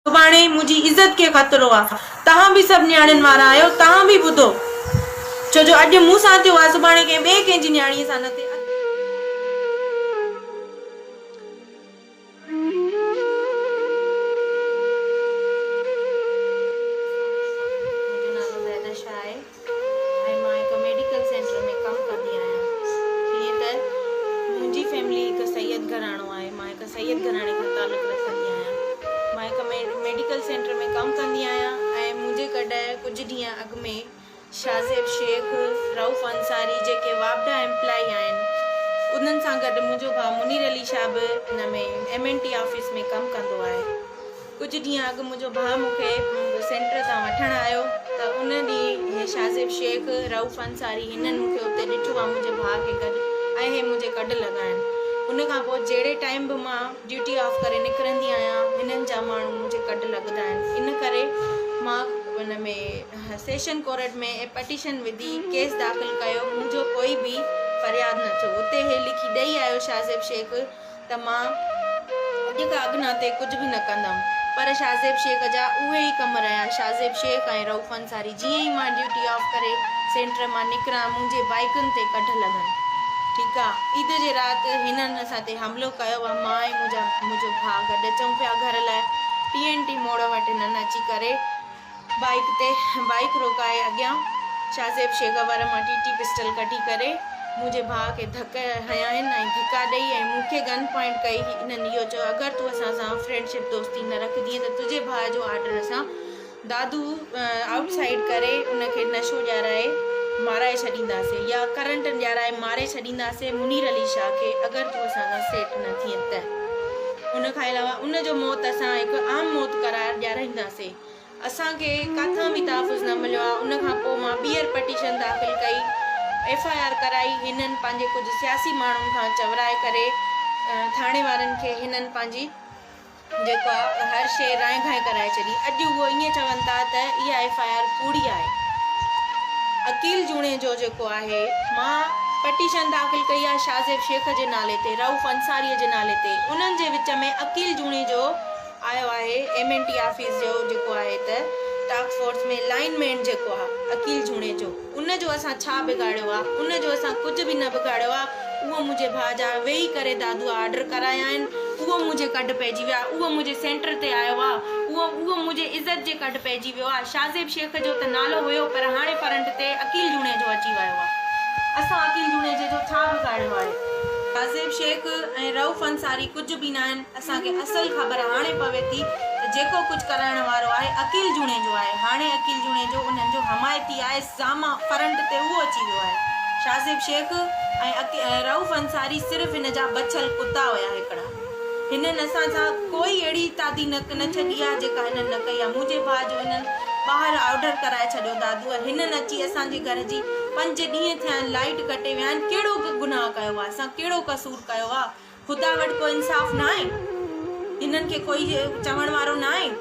سڀاڻي منهنجي عزت کي خطرو آ. توهان به سڀ نياڻين وارا آهيو توهان به ٻڌو ڇو جو اڄ مون سان ٿيو آهي سڀاڻي ڪنهن ٻئي ڪنهن جي نياڻي سان نه ٿئي اڳ منهنجو نالو زينش آهي. ۽ مان هڪ ميڊيڪل سينٽر ۾ ڪم ڪندي آهيان. جيئن ته منهنجي فيملي هڪ سيد گهراڻو آهي، مان هڪ سيد گهراڻي کان تعلق رکندي آهيان. مان هڪ ميڊيڪل سينٽر ۾ ڪم ڪندي آهيان ۽ منهنجي گڏ ڪجهه ڏينهن اڳ ۾ شاهزيب شيخ، رئوف انصاري جيڪي واپڊا ايمپلائي آهن انهن سان گڏ منهنجو ڀاء منير علي شاهه به ان ۾ ايم اين ٽي آفيس ۾ ڪم ڪندو آهي. ڪجهه ڏينهن اڳ منهنجو ڀاء مون کي سينٽر تان وٺڻ آيو ته ان ڏينهن هي شاهزيب شيخ، رئوف انصاري هنن مون کي اتي ڏٺو ۽ منهنجي ڀاء کي گڏ ۽ هي منهنجي ڪڍ لڳا آهن. ان کان پوء جهڙي ٽائيم به مان ڊيوٽي آف ڪري نڪرندي آهيان هنن جا ماڻهو منهنجي ڪڍ لڳندا آهن ان ڪري مان ان ۾ سيشن ڪورٽ ۾ پٽيشن وڌي ڪيس داخل ڪيو منهنجو ڪوئي به فرياد نه ٿيو اتي هي لکي ڏئي آيو شاهزيب شيخ ته مان اڄ کان اڳ ناتي ڪجهه به نه ڪندم. پر شاهزيب شيخ جا اهي ئي ڪم رهيا. شاهزيب شيخ ۽ رئوف انصاري جيئن ئي مان ڊيوٽي آف ڪري سينٽر مان نڪران منهنجي بائيڪن تي ڪڍ لڳن. ٺيڪ آ. عيد جي رات هنن اسان تي حملو ڪيو ۽ مان ۽ منهنجا منهنجو ڀاء گڏ اچون پيا گهر لاء. ٽي اين ٽي موڙ وٽ هنن اچي ڪري بائيڪ تي بائيڪ روڪائي اڳيان شاهزيب شيگا وارا مان ٽي ٽي پسٽل ڪڍي ڪري منهنجي ڀاء کي ڌڪ هنيائين ۽ ڌڪا ڏئي ۽ مون کي گن پوائنٽ ڪئي انهن اهو چيو اگر تون اسان سان فرينڊ شپ دوستي نه رکجين ته تنهنجي ڀاء جو آرڊر اسان دادو آئوٽ سائيڊ ڪري ان کي نشو ڏيارائي مارائي ڇڏينداسين يا ڪرنٽ ڏيارائي ماري ڇڏينداسين منير علي شاهه کي اگر تون اسان سان سيٽ نه ٿئين ته ان کان علاوه ان جو موت اسان هڪ عام موت قرار ڏيارائينداسين. اسان کي ڪٿان به تحفظ نه مليو آهي ان کان پوء مان ٻيهر پٽيشن داخل ڪئي ايف آء آر ڪرائي هنن پنهنجي ڪجهه سياسي ماڻهن کان چورائي ڪري ٿاڻي وارن کي هنن پنهنجي جيڪو آهي هر شيء رائي گهائي ڪرائي ڇڏي اڄ هو ائين چون ٿا ته اها ايف آء آر ڪوڙي آهي عقيل جوڻيجو جيڪو آهي مان پٽيشن داخل ڪئي آهي شاهزيب شيخ جي نالي تي رئوف انصاري جي نالي تي انهن جي وچ ۾ عقيل جوڻيجو آيو آهي ايم اين ٽي آفيس جو جيڪو آهي ته ٽاڪ فورس ۾ لائين مين جيڪو آ عقيل جوڻيجو ان جو اسان ڇا بگاڙيو آ ان جو اسان ڪجهه به نه بگاڙيو آ اهو منهنجي ڀاء جا ويهي ڪري دادوء آرڊر ڪرايا آهن اهو منهنجي ڪڍ پئجي ويو آ اهو منهنجي سينٽر تي آيو آ اهو اهو منهنجي عزت جي ڪڍ پئجي ويو آ شاهزيب شيخ جو ته نالو هيو پر هاڻي فرنٽ تي عقيل جوڻيجو اچي ويو آ اسان عقيل جوڻيجي جو ڇا بگاڙيو آهي شاهزيب شيخ ۽ رئوف انصاري ڪجهه به ناهن. اسان کي اصل خبر هاڻي پوي ٿي ته جيڪو ڪجهه ڪرائڻ وارو آهي عقيل جوڻيجو آهي. هاڻي عقيل جوڻيجو انهن جو حمايتي آهي سامهان فرنٽ تي اهو اچي ويو آهي. شاهزيب شيخ ۽ رئوف انصاري صرف هن جا بڇل ڪتا هيا هڪڙا. هنن اسان سان ڪوئي اهڙي تادي نه نه ڇڏي آهي جيڪا انهن نه ڪئي آهي. منهنجي ڀاء جو انهن ٻاهر آرڊر ڪرائي ڇڏيو دادوء هنن اچي اسان جي گهر جي پنج ڏينهن ٿيا آهن لائيٽ ڪٽي ويا آهن ڪهڙو گناهه ڪيو آهي اسان ڪهڙو قصور ڪيو آهي. خدا وٽ ڪو انصاف ناهي هنن کي ڪوئي چوڻ وارو ناهي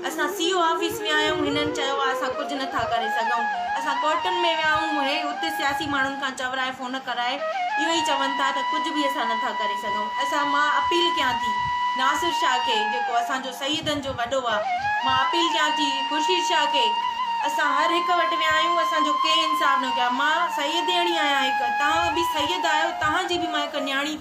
اسان سي او آفيس ويا آهيون هنن چيو آهي اسان ڪجهه نٿا ڪري سگهون اسان ڪورٽن ۾ ويا آهيون هي اتي سياسي ماڻهن کان چورائي فون ڪرائي اهو ئي چون ٿا ته ڪجهه به اسان نٿا ڪري سگهون اسان مان اپيل ڪيان ٿي ناصر شاهه کي جيڪو اسان جو سيدن جو وڏو آهي مان اپيل ڪيان ٿي خورشيد شاهه کي اسان هر هڪ وٽ ويا آهيون اسان جو ڪنهن انصاف نه ڪيو آهي مان سيدياڻي آهيان هڪ توهان به سيد آهيو توهان جي به مان هڪ نياڻي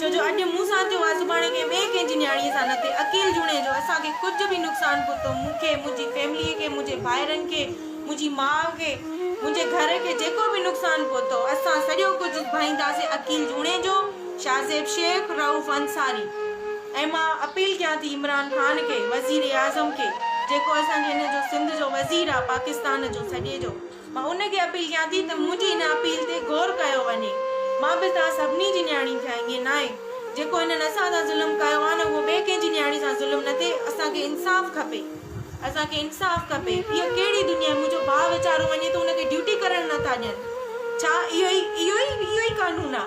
ڇو جو اڄ مون سان ٿيو آهي سڀاڻي ڪنهن ٻئي ڪنهن جي نياڻيء سان نه ٿئي عقيل جوڻيجو اسان کي ڪجهه به نقصان پهتو مون کي منهنجي فيمليء کي منهنجي ڀائرن کي منهنجي ماء کي منهنجي گهر کي جيڪو به نقصان پهتو اسان سڄو ڪجهه ڀائينداسين عقيل جوڻيجو شاهزيب شيخ رئوف انصاري ۽ مان اپيل ڪيان ٿي عمران خان کي وزير اعظم کي جيڪو اسان جي هن جو سنڌ جو وزير آهي پاڪستان جو سڄي جو. مان هن کي اپيل ڪيان ٿي ته منهنجي هن اپيل تي غور ڪيو وڃي. مان به توهان سڀني جي نياڻي ٿيان ائين ناهي. جيڪو هنن اسان سان ظلم ڪيو آهي نه اهو ٻئي ڪنهن جي نياڻي سان ظلم نه ٿئي. اسان کي انصاف کپي. اسان کي انصاف کپي. اها ڪهڙي دنيا آهي منهنجو ڀاء ويچارو وڃي ٿو ان کي ڊيوٽي ڪرڻ نه ٿا ڏين. ڇا اهو ئي اهو ئي اهو ئي قانون آهي.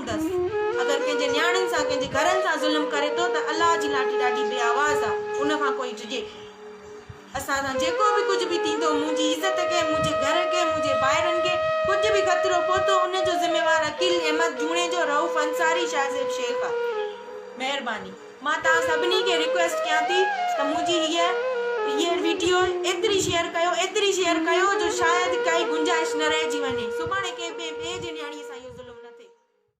ڪندس. اگر ڪنهن جي نياڻين سان ڪنهن جي گهرن سان ظلم ڪري ٿو ته الله جي لاٽي ڏاڍي بي آواز آ ان کان ڪوئي ڊڄي اسان سان جيڪو به ڪجهه به ٿيندو منهنجي عزت کي منهنجي گهر کي منهنجي ڀائرن کي ڪجهه به خطرو پهتو ان جو ذميوار عقيل احمد جوڻيجو رئوف انصاري شاهزيب شيخ آ مهرباني مان توهان سڀني کي ريڪويسٽ ڪيان ٿي ته منهنجي هيء هيء ويڊيو ايتري شيئر ڪيو ايتري شيئر ڪيو جو شايد ڪائي گنجائش نه رهجي وڃي سڀاڻي ڪنهن ٻئي جي نياڻي سان اهو ظلم نه ٿئي.